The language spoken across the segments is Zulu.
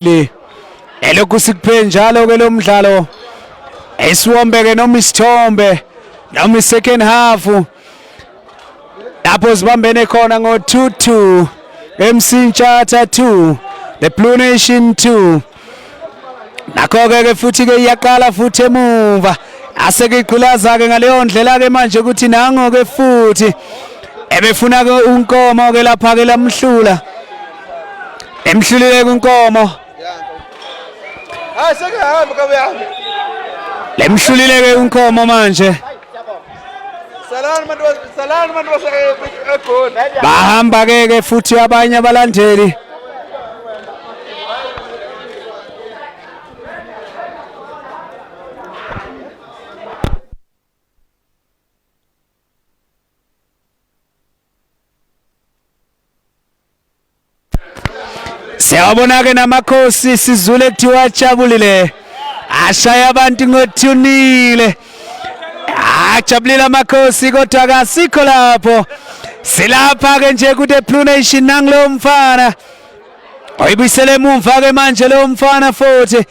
le elokhu sikuphe njalo ke lo mdlalo esiwombeke noma isithombe noma isecond half lapho zibambene khona ngo-2-2 MC Ntshatha 2 the Blue Nation 2 nakho-ke ke futhi-ke iyaqala futhi emuva aseke igqilaza-ke ngaleyo ndlela-ke manje ukuthi nango-ke futhi ebefuna-ke unkomo-ke lapha-ke lamhlula emhlulile kwinkomo hayi sekehamba ka uyahamba lemhlulile ke kwinkomo manje salani bantu salani bantu basegoli bahamba ke ke futhi abanye abalandeli Siyabona-ke namakhosi sizule kuthiwa ajabulile ashaya abantu ngothunile ajabulile amakhosi kodwa kasikho lapho silapha-ke nje kude blue nation nangulowo mfana oyibuyisele emumva-ke manje lowo mfana futhi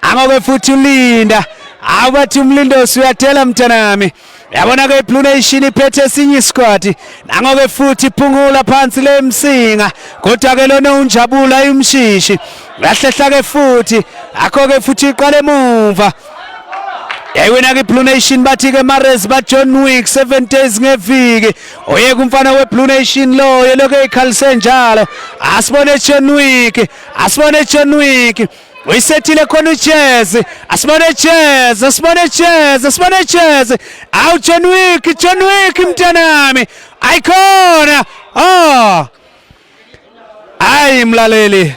angoke futhi ulinda awu bathi umlindosi uyathela mntanami Yabona ke iBlue Nation iphethe esinye isikwati nango ke futhi iphungula phansi le msinga kodwa ke lona unjabula imshishi lahlehla ke futhi akho ke futhi iqale emuva yayiwina kwiblue nation bathi-ke mares bajohn wick seven days ngeviki oyeka umfana weblue nation loyo lokhu eyikhalise njalo asibone john wick asibone john wick uyisethile khona ujezi asibone jezi asibone jezi asibone jezi awu john wick john wick mntanami ayikhona o oh. ayi mlaleli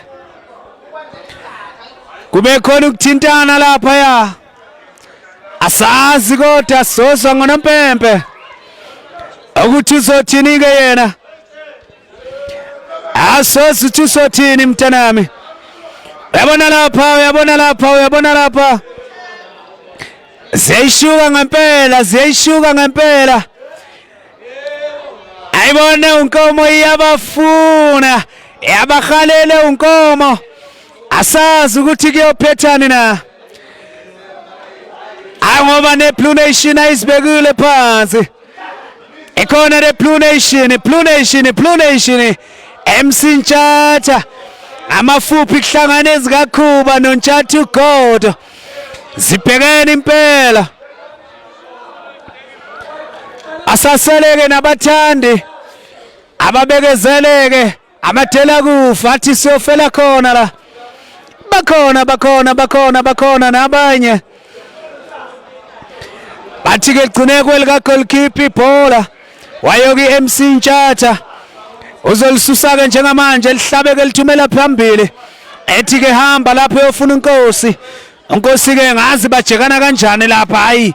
kube khona ukuthintana lapha ya asazi kodwa sozwa ngonompempe ukuthi uzothini-ke yena asozi ukuthi usothini mntanami uyabona lapha uyabona lapha uyabona lapha ziyayishuka ngempela ziyayishuka ngempela ayibone unkomo iyabafuna yabahalele unkomo asazi ukuthi kuyophethani na ayi ngoba neblue nation ayizibekile phansi ikhona le Blue Nation Blue Nation Blue Nation MC Ntshatha amafuphi kuhlangana ezikakhuba noNtshatha uGodo zibhekene impela asaseleke nabathandi ababekezeleke Amadela kufa athi siyofela khona la. Bakhona bakhona bakhona bakhona nabanye. Bathi ke ligcine kwelika goalkeeper ibhola. Wayoki MC Ntshatha. Uzolisusa ke njengamanje lihlabeke lithumela phambili. Ethi ke hamba lapho uyofuna inkosi. Inkosi ke ngazi bajekana kanjani lapha hayi.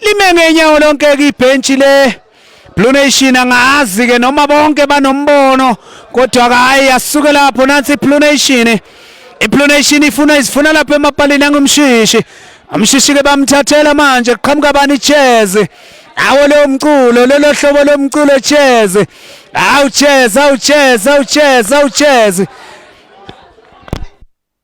lime ngenyawo lonke-ke ibhentshi le Blue Nation angazi ke noma bonke banombono kodwa ke hayi asuke lapho nansi Blue Nation iBlue Nation ifuna izifuna lapha emapalini angumshishi umshishi ke bamthathela manje kuqhamuka bani cheze awo lo mculo lelo hlobo lomculo cheze awu cheze awu cheze awu cheze awu cheze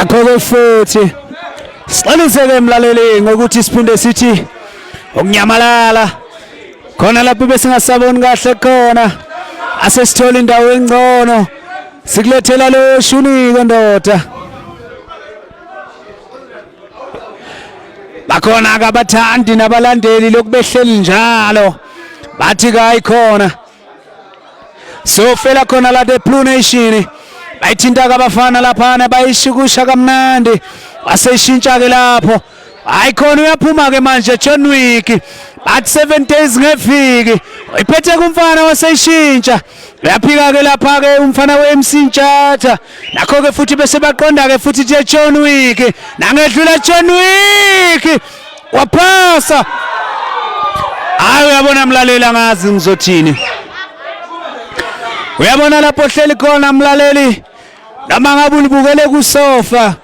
akho-ke futhi siqaliseke emlaleli ngokuthi siphinde sithi ukunyamalala khona lapho besingasaboni kahle khona asesithola indawo engcono sikulethela lo shunike ndoda bakhona ke abathandi nabalandeli lokhu behleli njalo bathi kayikhona sofela khona la the blue nation bayithinta kabafana laphana bayishikusha kamnandi waseshintsha ke lapho hayi khona uyaphuma ke manje John Wick bathi 7 days ngeviki uyiphethe kumfana waseshintsha uyaphika ke lapha ke umfana weMC Ntshatha nakho ke futhi bese baqonda ke futhi the John Wick nangedlula John Wick waphasa hayi uyabona mlaleli angazi ngizothini uyabona lapho hleli khona mlaleli noma ngabe ulibukele kusofa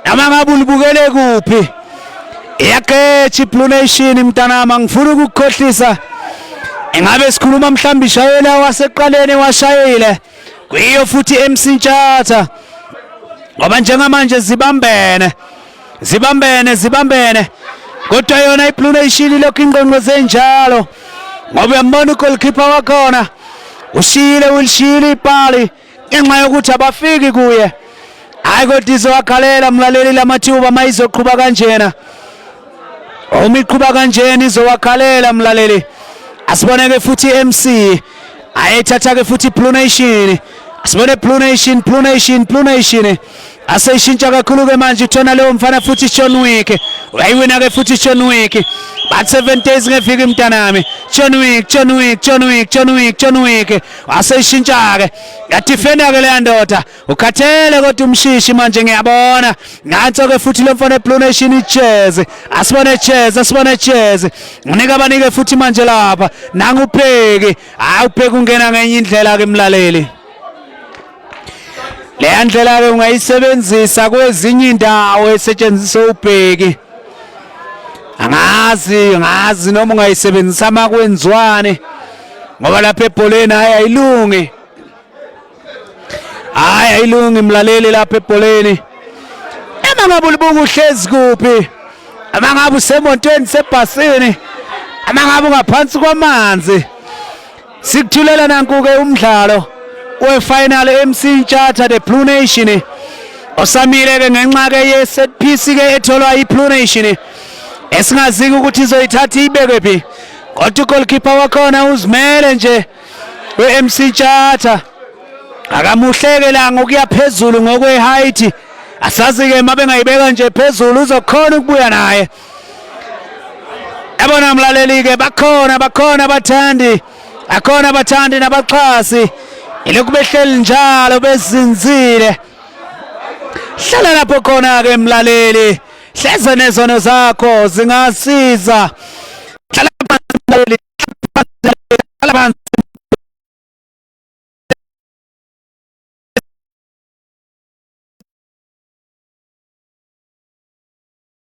Noma ngabe ulibukele kuphi. Iyaqetsha iBlue Nation mntanami angifuni ukukukhohlisa. Engabe sikhuluma mhlawumbe ishayela waseqaleni washayile. Kuyiyo futhi MC Ntshatha. Ngoba njengamanje zibambene. Zibambene zibambene. Kodwa yona iBlue Nation lokhu ingqongqo zenjalo. Ngoba uyambona ugoalkeeper wakhona. Ushiyile ulishiyile ipali. ngenxa yokuthi abafiki kuye hayi kodwa izowakhalela mlaleli lamathuba uma izoqhuba kanjena uma iqhuba kanjena izowakhalela mlaleli asiboneke futhi i-mc ayethatha-ke futhi i-blue nation asibone blue nation blue nation blue nation aseyishintsha kakhulu-ke manje uthona leyo mfana futhi John Wick uyayiwina-ke futhi John Wick but seven days ngeviki mntanami John Wick John Wick John Wick John Wick John Wick aseyishintsha-ke yadifenda-ke leya ndoda ukhathele kodwa umshishi manje ngiyabona nanso-ke futhi lo mfana eblue nation ijezi asibone ijezi asibone ijezi unika abanike futhi manje lapha nangu ubheki hayi ubheki ungena ngenye indlela-ke mlaleli leya ndlela-ke ungayisebenzisa kwezinye indawo esetshenziswa ubheki angazi ngazi noma ungayisebenzisa uma kwenziwane ngoba lapha ebholeni hhayi ayilungi hhayi ayilungi mlaleli lapha ebholeni uma ngabe ulibuka uhlezi kuphi uma ngabe usemontweni sebhasini uma ngabe ungaphansi kwamanzi Sikuthulela nanku-ke umdlalo wefinal eMC Ntshatha the Blue Nation osamile-ke ngenxa-ke ye-set piece-ke etholwa i-Blue Nation esingaziki ukuthi izoyithatha iyibeke phi kodwa ugolkipa wakhona uzimele nje we-mc Ntshatha akamuhleke la ngokuya phezulu ngokwe-height asazi-ke uma bengayibeka nje phezulu uzokhona ukubuya naye Yabona mlaleli ke bakhona bakhona abathandi akhona abathandi nabaxhasi ilokhu behleli njalo bezinzile hlala lapho khona ke mlaleli hleze nezono zakho zingasiza hlala phansi mlaleli hlala phansi